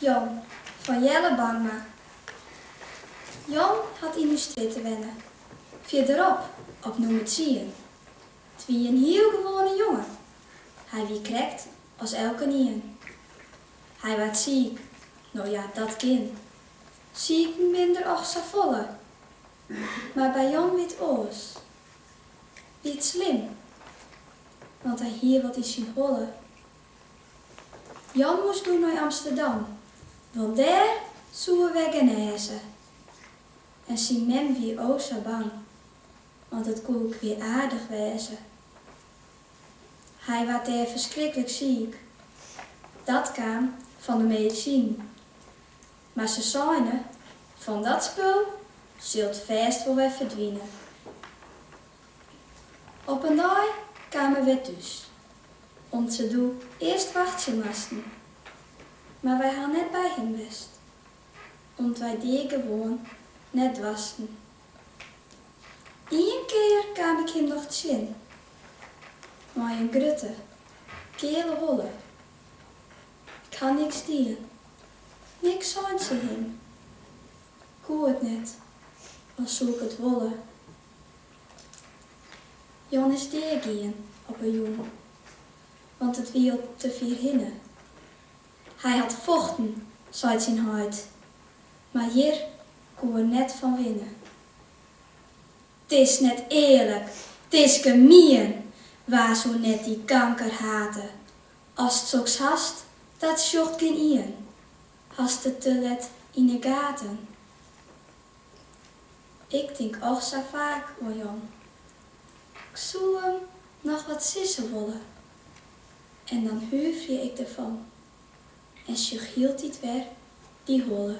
Jan fan Jelle Bangma. Jan hat yn ús strjitte wenne, fierderop op nûmer tsien. 't wie in hiel gewoane jongen, hy wie krekt as elkenien. Hy waard siik, no ja, dat kin, siken binne der och safolle, mar by Jan wie 't oars. Wie 't slim, want hy hie wat yn syn holle. Jan moast doe nei Amsterdam, want dêr soe er wer genêze. En syn mem wie o sa bang, want it koe kwiaardich wêze. Hy waard dêr ferskriklik siik. Dat kaam fan de medisinen. Mar se seine, Fan dat spul sil 't fêst wol wer ferdwine. Op in dei kaam er wer thús. Om't se doe earst wachtsje moasten. Mar wy ha net by him west. Om't wy dat gewoan net doarsten. Ien kear kaam ik him noch tsjin. Mei in grutte, keale holle. Ik ha niks dien, niks sein tsjin him. Koe it net, al soe ik it wolle. Jan is dea gien op 'e jûn, want it wie al te fier hinne. Hy hat fochten, seit syn heit, mar hjir koe er net fan winne. 'T is net earlik, 't is gemien, wa soe net dy kanker hate? Ast soks hast, dat sjocht gjin ien, hast it te let yn 'e gaten. Ik tink och sa faak oan Jan. Ik soe him noch wat sizze wolle en dan huverje ik derfan en sjoch hieltyd wer dy holle.